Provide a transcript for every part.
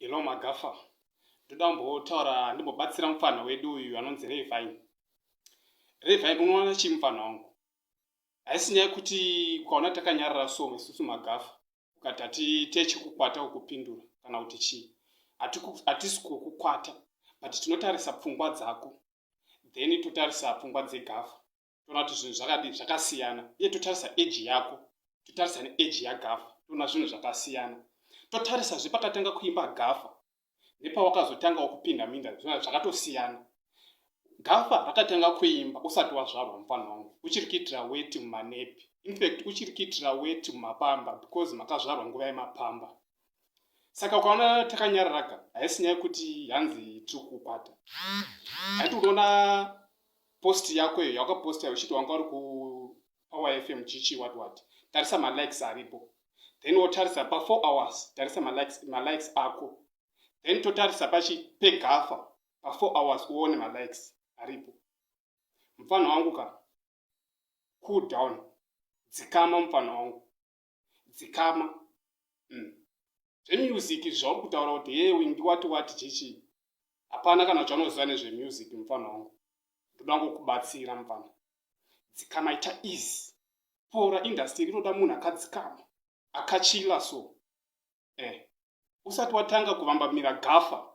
Hello Magafa, ndoda kumbotaura ndimbobatsira mupfanha wedu uyu anonzi Revai. Revai, unoona chii mupfanha wangu? Haisi nyaya kuti ukaona takanyarara so isusu Magafa ukati hatiite chikukwata ukupindura kana kuti chii. Hatisi kukukwata but tinotarisa pfungwa dzako then totarisa pfungwa dzeGafa. toona kuti zvinhu zvakadii zvakasiyana iye totarisa eji yako totarisa neeji yagafa toona zvinhu zvakasiyana totarisa zvepakatanga kuimba gafa nepawakazotangawo kupinda minda zvinhu zvakatosiyana gafa rakatanga kuimba usati wazvarwa mufana wangu uchiri kuitira weti mumanepi infact uchiri kuitira weti mumapamba because makazvarwa nguva yemapamba saka ukaona takanyararaga haisi nyaya yekuti hanzi tiri kukwata haiti unoona post yako iyo yawakaposta uchiti wanga uri kupower fm chichi wat wat tarisa malikes aripo then wotarisa pafour hours tarisa malikes ako then totarisa pachi pegafa pafour hours uone malikes aripo mupfanha wangu ka cool down dzikama mupfanha wangu dzikama mm. zvemusic zvauri kutaura kuti hee windi wati wati chichii hapana kana chaunoziva nezvemusic mupfana wangu ndoda ngokubatsira mupfana dzikama ita easy pora indastry rinoda munhu akadzikama akachila so eh usati watanga kuvambamira gafa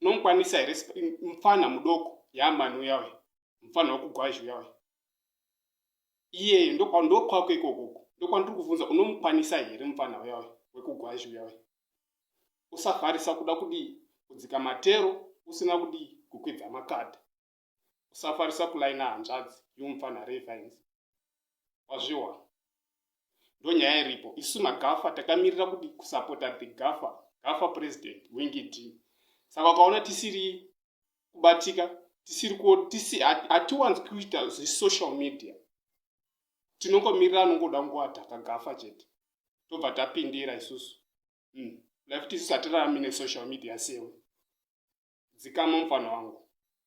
Unomukwanisa here mfana mudoko yaamani uya uya mfana wekugwazhi uya uya iyeyo ndokwako ikokoko ndokwandiri kuvhunza unomukwanisa here mfana uya uya wekugwazhi uya uya usafarisa kuda kudii kudzika matero usina kudii kukwidza makadha usafarisa kulaina hanzvadzi yomupfanha revines wazviwa ndonyaya iripo isu magafa takamirira kuti kusapota the gafa gafa president wingidi saka ukaona tisiri kubatika tisiri ku tisi hatiwanzi kuita zvesocial media tinongomirira anongoda nguva takagafa chete tobva tapindira isusu mm. lafuti isusu hatirarami nesocial media sewe dzikama mufana wangu